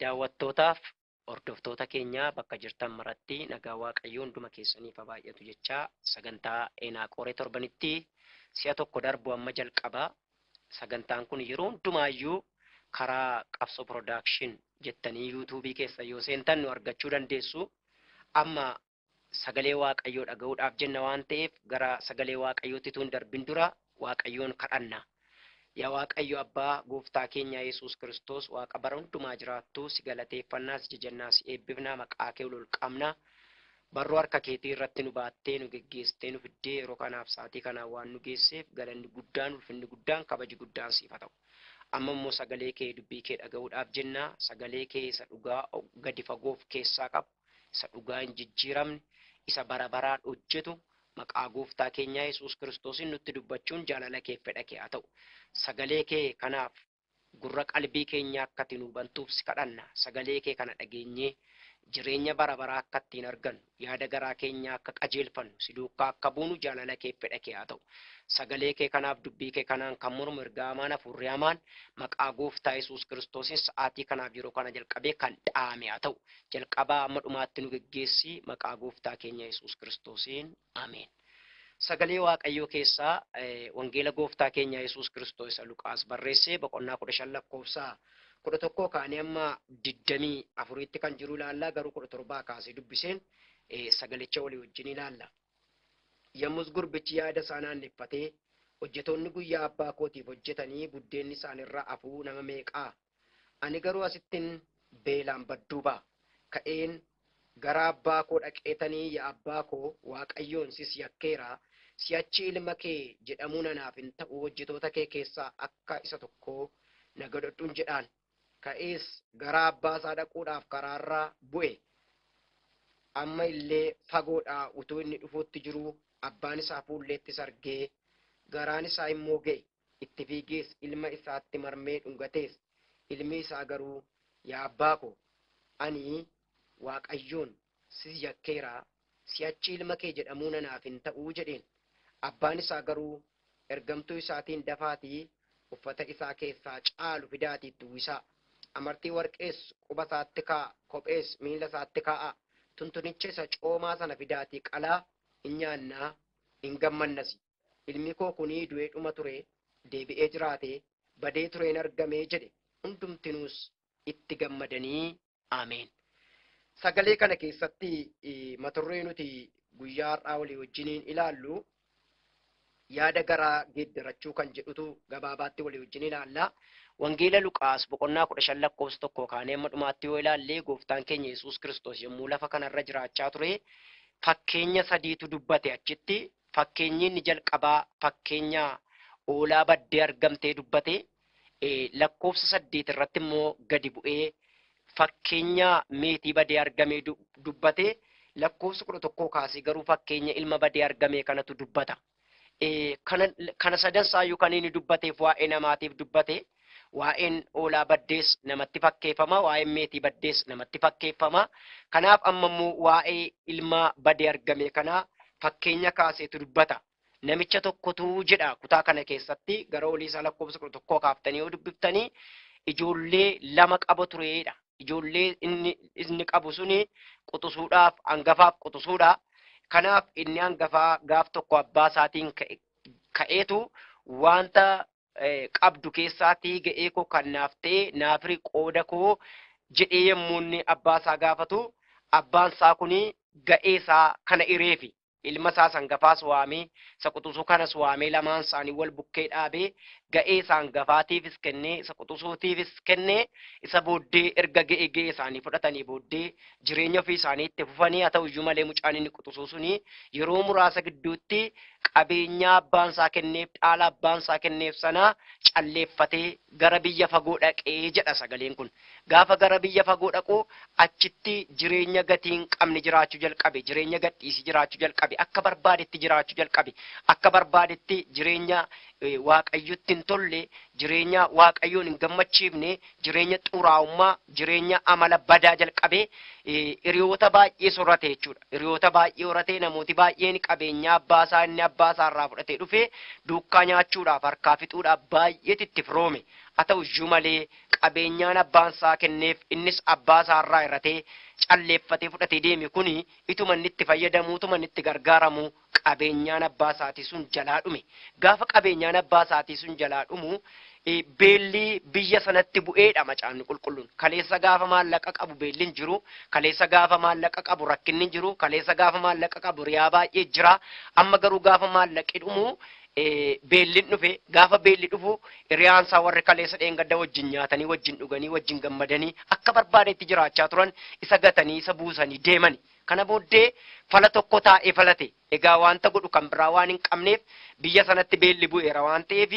Daawwattootaaf hordoftoota keenyaa bakka jirtan maratti nagaa waaqayyoo hunduma keessaniif haa baay'atu jechaa sagantaa Eenaaqooree torbanitti si'a tokko darbu amma jalqaba. Sagantaan kun yeroo hundumaayyuu karaa Qabsoo Production jettanii YouTube keessa yoo seentan nu argachuu dandeessu. Amma sagalee Waaqayyoo dhaga'uudhaaf jenna waan ta'eef gara sagalee Waaqayyootti utuu hin darbin dura Waaqayyoon kadhanna. Yaa Waaqayyo Abbaa gooftaa keenya Yesuus Kiristoos Waaqa bara hundumaa jiraattu si galateeffannaa si jajannaa si eebbifnaa maqaa kee ol ol qabna. Barruu harka keetii irratti nu baattee nu geggeessitee nu fiddee yeroo kanaaf sa'aatii kanaan waan nu geesseef galanni guddaan ulfinni guddaan kabaji guddaan siif haa ta'u. Amma immoo sagalee kee dubbii kee dhaga'uudhaaf jenna sagalee kee isa dhugaa gadi fagoof keessaa qabu isa dhugaa hin jijjiiramne, isa bara baraan hojjetu, maqaa Gooftaa keenyaa Yesuus Kiristoosiin nutti dubbachuun jaalala keef fedha kee haa ta'u. Sagalee kee kanaaf gurra qalbii keenyaa akka ati nuu bantuuf si kadhanna. Sagalee kee kana dhageenyee jireenya bara baraa akka ittiin argannu, yaada garaa keenyaa akka qajeelfannu, si duukkaa akka buunu jaalala keef fedha kee haa ta'u. Sagalee kee kanaaf dubbii kee kanaan kan mormu ergaa hamaan hafuurri hamaan maqaa Gooftaa Yesuus Kiristoosiin sa'aatii kanaaf yeroo kana jalqabee kan dhaame haa ta'u. Jalqabaa amma dhumaatti nu geggeessi maqaa gooftaa keenya Yesuus Kiristoosiin. Ameen. Sagalee Waaqayyoo keessaa eh, wangeela gooftaa keenya Yesuus Kiristoos isa Luqaas barreesse boqonnaa kudha shan lakkoofsa kudha tokkoo kaanii amma digdamii afuriitti kan jiru ilaalla garuu kudha torbaa kaasee dubbiseen eh, sagalicha walii wajjin ilaalla. Yommus gurbichi yaada isaa naanneffatee hojjetoonni guyyaa abbaa kootiif hojjetanii buddeenni isaanirra afuu nama meeqaa Ani garuu asittin beelaan badduu ba'a. Ka'een gara abbaa koo dhaqeetanii ya abbaa koo Waaqayyoon sis yakkeera, si'achi ilma kee jedhamuun anaaf hin ta'u hojjetoota kee keessaa akka isa tokkoo na godhadhun jedhaan. Ka'ees gara abbaa isaa dhaquudhaaf karaarra bu'e. Amma illee fagoodhaa utuu inni dhufuutti jiruu abbaan isaa fuulleettis argee garaan isaa immoo ga'e. Itti fiigees ilma isaatti marmee dhungatees. Ilmi isaa garuu, Yaa abbaa ko, ani Waaqayyoon si yakkeera, si'achi ilma kee jedhamuun anaaf hin ta'u jedheen. Abbaan isaa garuu ergamtuu isaatiin Dafaatii uffata isaa keessaa caalu fidaatii itti uwwisaa. Amartii warqees quba isaatti kaa'aa, kophees miila isaatti kaa'aa. Tuntunicha isa coomaa sana fidaatii qalaa, in nyaannaa, in gammannasi. Ilmi koo kunii du'ee dhuma turee, deebi'ee jiraatee, badee turee in argamee jedhe, hundumtinuus itti gammadanii. Ameen. Sagalee kana keessatti maturree nuti guyyaa har'aa walii wajjiniin ilaallu yaada garaa geeddarachuu kan jedhutu gabaabaatti walii wajjin ilaalla. Wangeela Luqaas boqonnaa kudha shan lakkoofsa tokkoo kaanee amma dhumaatti yoo ilaalle gooftaan keenya Yesuus Kiristoos yommuu lafa kanarra jiraachaa ture fakkeenya sadiitu dubbate achitti Fakkeenyi inni jalqabaa fakkeenya hoolaa baddee argamtee dubbate. Lakkoofsa saddeet irratti immoo gadi bu'ee fakkeenya meetii badee argamee dubbate. Lakkoofsa kudha tokkoo kaasee garuu fakkeenya ilma badee argamee kanatu dubbata. Kana sadan isaayyuu kan inni dubbateef waa'ee namaatiif dubbate. Waa'een hoolaa baddees namatti fakkeeffama, waa'een meetii baddees namatti fakkeeffama. Kanaaf amma immoo waa'ee ilmaa badee argame kanaa fakkeenya kaaseetu dubbata. Namicha tokkotu jedha kutaa kana keessatti gara olii isaa lakkoofsa kudha tokkoo kaaftanii yoo dubbiftanii ijoollee lama qaba tureedha. Ijoollee inni, inni qabu suni quxusuudhaaf hangafaaf quxusuudha. Kanaaf inni hangafaa gaaf tokko abbaa isaatiin ka'e- ka'eetu wanta qabdu keessaatii ga'ee koo kan naaf ta'e naaf hiri qooda koo jedhee yommuu inni abbaa isaa gaafatu abbaan isaa kun ga'ee isaa kana hireefi ilma isaa sangafaas waamee isa quxusuu kanas waamee lamaan isaanii wal bukkee dhaabee ga'ee isaa hangafaatiifis kennee isa quxusuutiifis kennee isa booddee erga ga'ee ga'ee isaanii fudhatanii booddee jireenya ofii isaanii itti fufanii haa ta'u iyyuu malee mucaan inni quxusuu suni yeroo muraasa gidduutti qabeenyaa abbaan isaa kenneef dhaala abbaan isaa kenneef sana calleeffatee gara biyya fagoo dhaqee jedha sagaleen kun. Gaafa gara biyya fagoo dhaqu achitti jireenya gatii hin qabne jiraachuu jalqabe jireenya gadhiisii jiraachuu jalqabe akka barbaadetti jiraachuu jalqabe akka barbaadetti jireenya eh, waaqayyotti hin tolle jireenya waaqayyoon hin gammachiifne jireenya xuraa'ummaa, jireenya amala badaa jalqabee eh, hiriyoota baay'ee sorrate jechuudha. Hiriyoota baay'ee horatee namooti baay'een qabeenyaa abbaa isaa inni abbaa isaa irraa fudhatee dhufee duukkaa nyaachuudhaaf harkaa fixuudhaaf baay'eetti itti firoome. Haa ta'u iyyuu malee qabeenyaan abbaan isaa kenneef innis abbaa isaa irraa irratee calleeffatee fudhatee deeme kuni ituma inni itti fayyadamu, ituma inni itti gargaaramu qabeenyaan abbaa isaatii sun jalaa dhume. Gaafa qabeenyaan abbaa isaatii sun jalaa dhumu eh, beelli biyya sanatti bu'eedha macaafni qulqulluun. Kaleessa gaafa maallaqa qabu beelli hin jiru, kaleessa gaafa maallaqa qabu rakkinni hin jiru, kaleessa gaafa maallaqa qabu riyaa baay'ee jira, amma garuu gaafa maallaqi dhumu eh, beelli hin dhufe, gaafa beelli dhufu hiriyaan isaa warri kaleessa dheengadda wajjin nyaatanii, wajjin dhuganii, wajjin gammadanii akka barbaadetti jiraachaa turan isa gatanii, isa buusanii deemani. Kana booddee fala tokko taa'ee falate. Egaa wanta godhu kan biraa waan hin qabneef biyya sanatti beelli bu'eera waan ta'eef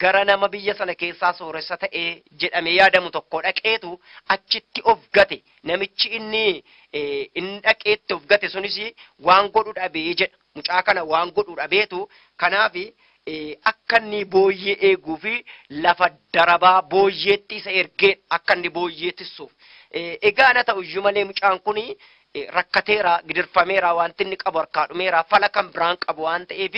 gara nama biyya sana keessaa sooressa ta'e jedhamee yaadamu tokkoo dhaqeetu achitti of gate. Namichi inni eh, inni dhaqeetti of gate sunis waan godhu dhabee jedha. Mucaa kana waan godhu dhabeetu kanaaf akka inni booyyee eeguu fi lafa darabaa booyyeetti isa ergeen akka inni booyyee tissuuf. Egaa ana ta'u iyyuu malee mucaan kun rakkateera, gidirfameera, wanti inni qabu harkaa dhumeera, fala kan biraan qabu waan ta'eef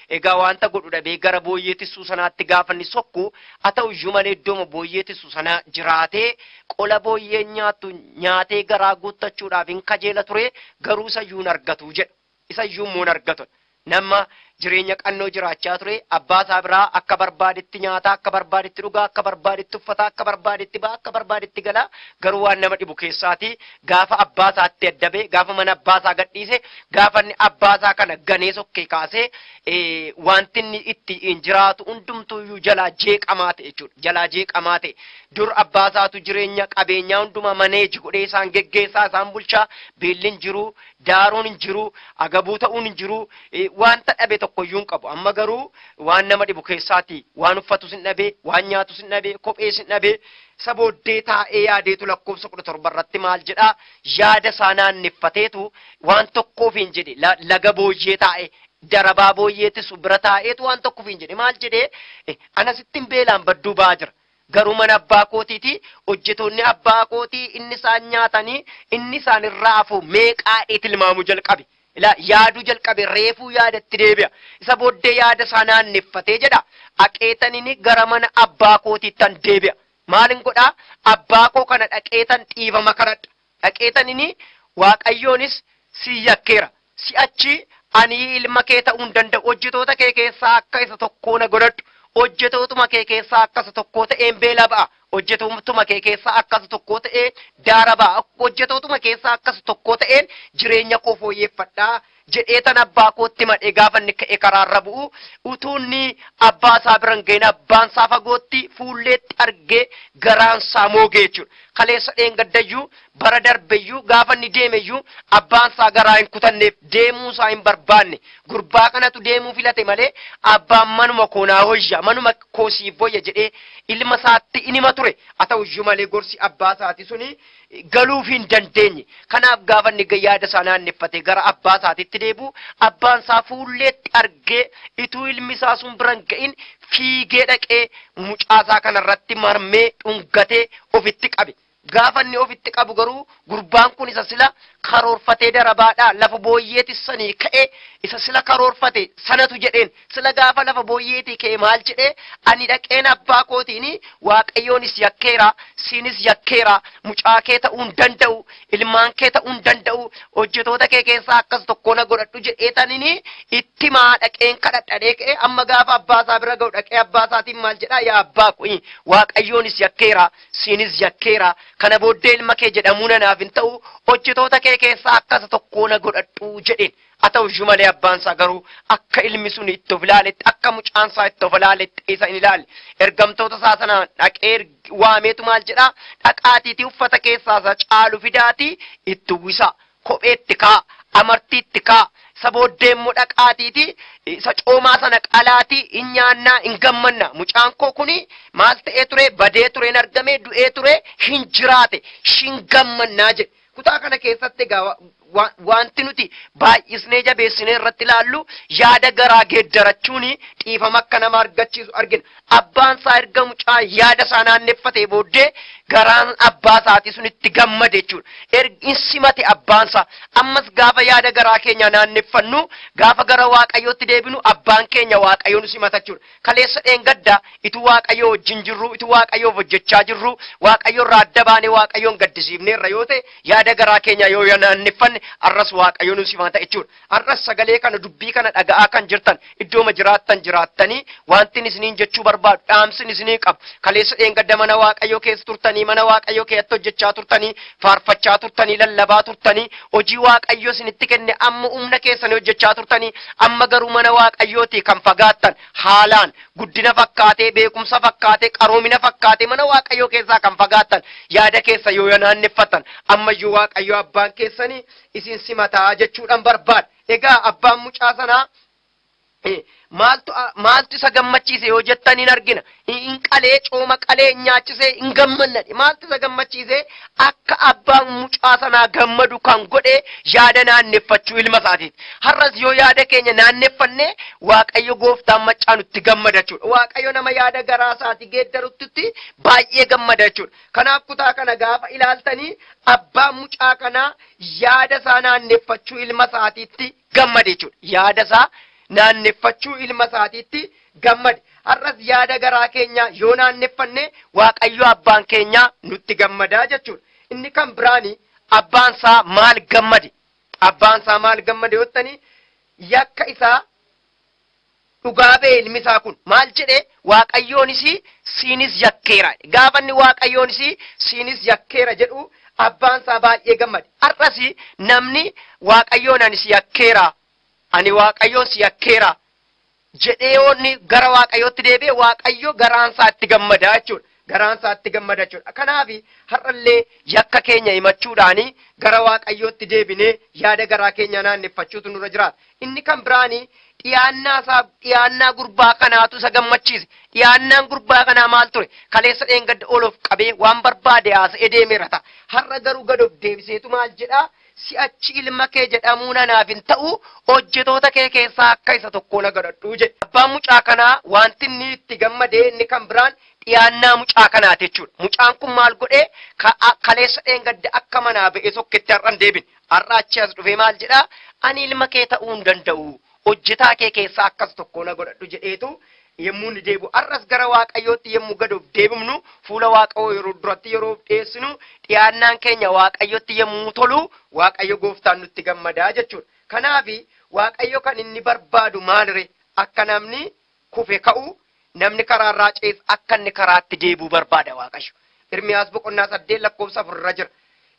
egaa wanta godhu dhabee gara booyyee tissuu sanaatti gaafa inni sokku haa ta'u iyyuu malee iddooma booyyee tissu sana jiraatee qola booyyeen nyaattu nyaatee garaa guuttachuudhaaf hin kajeela ture garuu isa iyyuu hin argatu jedha. Isa iyyuu immoo hin argatan. Nama jireenya qannoo jiraachaa ture, abbaa isaa biraa akka barbaadetti nyaataa, akka barbaadetti dhugaa, akka barbaadetti uffataa, akka barbaadetti ba'aa, akka barbaadetti galaa, garuu waan nama dhibu keessaati gaafa abbaa isaatti adda ba'e, gaafa mana abbaa isaa gadhiise, gaafa inni abbaa isaa kana ganee sokkee kaasee eh, wanti inni itti hin jiraatu hundumtuu iyyuu jalaa jeeqamaa ta'e jechuudha. Jalaa jeeqamaa ta'e. Dur abbaa isaatu jireenya qabeenyaa hundumaa maneeji godhee isaan geggeessaa, isaan bulchaa, beelli hin jiru, daaruun hin jiru, agabuu ta'uun hin jiru, eh, wanta dhabe tokko iyyuu hin qabu. Amma garuu waan nama dhibu keessaati waan uffatus hin dhabe, waan nyaatus hin dhabe, kophees hin dhabe. Isa booddee taa'ee yaadeetu lakkoofsa kudha torba irratti maal jedhaa yaada isaa naanneffateetu waan tokkoof hin jedhe La- laga booyyee taa'e darabaa booyyeetis bira taa'eetu waan tokkoof hin jedhe maal jedhee eh, ana sittin beelaan badduu ba'aa jira. Garuu mana abbaa kootiiti hojjetoonni abbaa kootii inni isaan nyaatanii inni isaan irraa hafu meeqaadhee tilmaamuu jalqabe. Ilaa yaaduu jalqabe reefuu yaadatti deebi'a. Isa booddee yaada isaa naanneffatee jedha dhaqeetanini gara mana abbaa kootiittan deebi'a. Maalin godhaa abbaa koo kana dhaqeetan dhiifama kadhadha. dhaqeetan ini Waaqayyoonis si yakkeera, si'achi ani ilma kee ta'uu hin danda'u, hojjetoota kee keessaa akka isa tokkoo na godhadhu, hojjetootuma kee keessaa akka isa tokkoo ta'een beela ba'a, hojjetootuma kee keessaa akka isa tokkoo ta'ee daara ba'a, hojjetootuma keessaa akka isa tokkoo ta'een jireenya koo fooyyeeffadha jedheetan abbaa kootti madhe gaafa inni ka'e karaarra bu'u utuu inni abbaa isaa bira hin ga'in abbaan isaa fagootti fuulleetti argee garaan isaa moogee jechuudha. Kaleessa dheengaddayyuu bara darbeyyuu gaafa inni deemeyyuu abbaan isaa garaa hin kutanneef deemuu isaa hin barbaanne gurbaa kanatu deemuu filate malee abbaan manuma koo naa hoyya manuma koo siif hoyya jedhee ilma isaatti inima ture haa ta'uyyuu malee gorsi abbaa isaati suni galuuf hin dandeenye. Kanaaf gaafa inni ga- yaada isaa naanneffate gara abbaa isaatitti deebi'u abbaan isaa fuulleetti argee ituu ilmi isaa sun bira hin ga'in fiigee dhaqee mucaa isaa kanarratti marmee dhungatee ofitti qabe. Gaafa inni ofitti qabu garuu gurbaan kun isa sila karoorfatee darabaadhaa lafa booyyeetti sanii ka'ee isa sila karoorfate sanatu jedheen Sila gaafa lafa booyyeetii ka'e maal jedhee ani dhaqeen abbaa kootiin waaqayyoonis yakkeera siinis yakkeera mucaa kee ta'uu hin danda'u ilmaan kee ta'uu hin danda'u hojjetoota kee keessaa akkas tokkoo na godhadhu jedhee tanini itti maa dhaqeen kadhadhadhee ka'e amma gaafa abbaa isaa bira ga'u dhaqee abbaa isaatiin maal jedhaa yaa abbaa koo waaqayyoonis yakkeera siinis yakkeera kana booddee ilma kee jedhamuu nanaaf hin ta'u hojjetoota kee keessaa akkas tokkoo na godhadhu jedheen Haa ta'u iyyuu malee abbaan isaa garuu akka ilmi sun itti of ilaaletti akka mucaan isaa itti of ilaaletti isa hin ilaalle. Ergamtoota isaa sana dhaqee erg- waameetu maal jedhaa dhaqaatiitii uffata keessaa isa caalu fidaatii itti uwwisaa. Kophee itti kaa, amartii itti kaa, isa booddee immoo dhaqaatiitii isa coomaa sana qalaatii hin nyaannaa hin gammanna. Mucaan koo kuni maal ta'ee ture badee ture hin argame du'ee ture hin jiraate hin gammannaa jedhe. Kutaa kana keessatti egaa wa- wa- wanti nuti baay'isnee jabeessinee irratti ilaallu yaada garaa geeddarachuun dhiifama akka nama argachiisu argina. Abbaan isaa erga mucaa yaada isaa naanneffatee booddee garaan abbaa isaatii sun itti gammade jechuudha. Erga in simate abbaan isaa. Ammas gaafa yaada garaa keenya naanneffannu gaafa gara waaqayyootti deebinu abbaan keenya waaqayyoon simata jechuudha. Kaleessa dheengadda itu Waaqayyoo wajjin jirruu, itu Waaqayyoof hojjechaa jirruu, Waaqayyo irraa adda baanee Waaqayyoon gaddisiifneerra yoo ta'e, yaada garaa keenyaa yoo yanaanneffanne, har'as Waaqayyo nu simaata jechuudha. Har'as sagalee kana, dubbii kana dhaga'aa kan jirtan, iddooma jiraattan jiraattanii, waantin isiniin jechuu barbaadu, dhaamsin isinii qabu, kaleessa dheengadda mana Waaqayyoo keessa turtanii, mana Waaqayyoo keessatti hojjechaa turtanii, faarfachaa turtanii, lallabaa turtanii, Hojii Waaqayyo isinitti kenne amma humna keessanii hojjechaa turtanii, amma garuu mana Waaqayyootii kan fagaattan, haalaan, guddina fakkaatee, beekumsa fakkaatee, qaroomina fakkaatee mana Waaqayyoo keessaa kan fagaattan, yaada keessa yoo yanaanneffattan, ammayyuu Waaqayyo abbaan keessanii isin simataa jechuudhaan barbaada. Egaa abbaan mucaa sanaa maaltu isa gammachiise yoo jettan hin argina. Hin qalee cooma qalee hin nyaachisee hin gammannadhe. Maaltu isa gammachiise akka abbaan mucaa sanaa gammadu kan godhe yaada naanneffachuu ilma isaatiiti. Har'as yoo yaada keenya naanneffanne Waaqayyo gooftaan maccaa nutti gammada jechuudha. Waaqayyo nama yaada garaa isaati geeddarutti baay'ee gammada jechuudha. Kanaaf kutaa kana gaafa ilaaltanii abbaan mucaa kanaa yaada isaa naanneffachuu ilma isaatiitti gammade jechuudha. Yaada isaa naanneffachuu ilma isaatiitti gammade. Har'as yaada garaa keenyaa yoo naanneffanne Waaqayyo abbaan keenyaa nutti gammadaa jechuudha. Inni kan biraani abbaan isaa maal gammade? Abbaan isaa maal gammade yottanii yakka isaa dhugaa ba'e ilmi isaa kun. Maal jedhe? Waaqayyoonis siinis yakkeera. Gaafa inni Waaqayyoonis siinis yakkeera jedhu abbaan isaa baay'ee gammade. Har'as namni Waaqayyoon ani si yakkeera, ani Waaqayyoon si yakkeera jedhee yoo inni gara Waaqayyootti deebi'e Waaqayyo garaan isaa itti gammada jechuudha. garaan isaatti gammada jechuudha. Kanaaf har'allee yakka keenya himachuudhaan gara Waaqayyootti deebinee yaada garaa keenya naanneffachuutu nurra jiraata. Inni kan biraan dhiyaannaa isaa dhiyaannaa gurbaa kanaatu isa gammachiise. Dhiyaannaan gurbaa kanaa maal ture? Kaleessa dheengadda ol of qabee waan barbaade haasa'ee deemeera ta'a. Har'a garuu gad of deebiseetu maal jedhaa? Si'achi ilma kee jedhamuu nanaaf hin ta'u hojjetoota kee keessaa akka isa tokkoo na godhadhu jedhe. Abbaan mucaa kanaa wanti inni itti gammade inni kan biraan dhiyaannaa mucaa kanaati jechuudha. Mucaan kun maal godhee ka- a- kaleessa dheengadda akka manaa ba'ee tokketti har'a hin deebine. Har'a achi as dhufee maal jedhaa ani ilma kee ta'uu hin danda'u. Hojjetaa kee keessaa akkas tokko na godhadhu jedheetu yommuu inni deebi'u. Har'as gara Waaqayyootti yommuu gad of deebifnu fuula Waaqayyoo yeroo duratti yeroo of dhiyeessinu dhiyaannaan keenya Waaqayyotti yommuu tolu Waaqayyo gooftaan nutti gammadaa jechuudha. Kanaafi Waaqayyo kan inni barbaadu maalire akka namni kufe ka'u, namni karaa irraa ce'es akka inni karaatti deebi'u barbaada Waaqayyo. Irmiyaas boqonnaa 8 lakkoofsa 4 irra jira.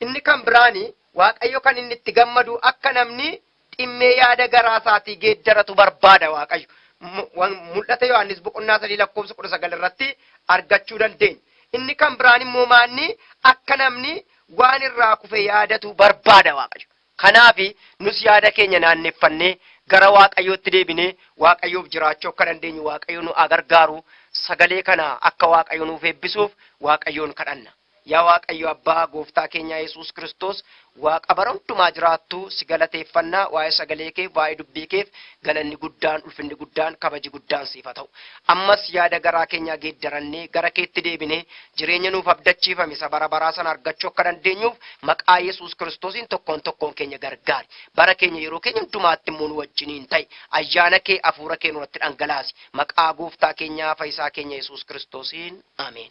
Inni kan biraan Waaqayyo kan inni itti gammadu akka namni dhimmee yaada garaa isaatii geeddaratu barbaada Waaqayyo. Mu- wan- Mul'ata Yohaannis boqonnaa 3 lakkoofsa 19 irratti argachuu dandeenya. Inni kan biraan immoo maanni akka namni waan irraa kufe yaadatu barbaada Waaqayyo. Kanaaf, nus yaada keenya naanneffannee, gara Waaqayyootti deebinee, Waaqayyoof jiraachuu akka dandeenyu Waaqayyo nu haa gargaaru, sagalee kana akka Waaqayyo nuuf eebbisuuf Waaqayyoon kadhanna. Yaa Waaqayyo Abbaa Gooftaa keenyaa Yesuus Kiristoos, Waaqa bara hundumaa jiraattu, si galateeffanna, waa'ee sagalee keef, waa'ee dubbii keef galanni guddaan, ulfinni guddaan, kabaji guddaan siif haa ta'u. Ammas yaada garaa keenyaa geeddarannee, gara keetti deebinee, Jireenya nuuf abdachiifame isa bara baraa sana argachuu akka dandeenyuuf maqaa Yesuus Kiristoosiin tokkoon tokkoon keenya gargaari. Bara keenya yeroo keenya hundumaatti immoo nu wajjiniin ta'i. Ayyaana kee hafuura kee nurratti dhangalaasi. Maqaa gooftaa keenyaa fayyisaa keenya Yesuus Kiristoosiin. Ameen.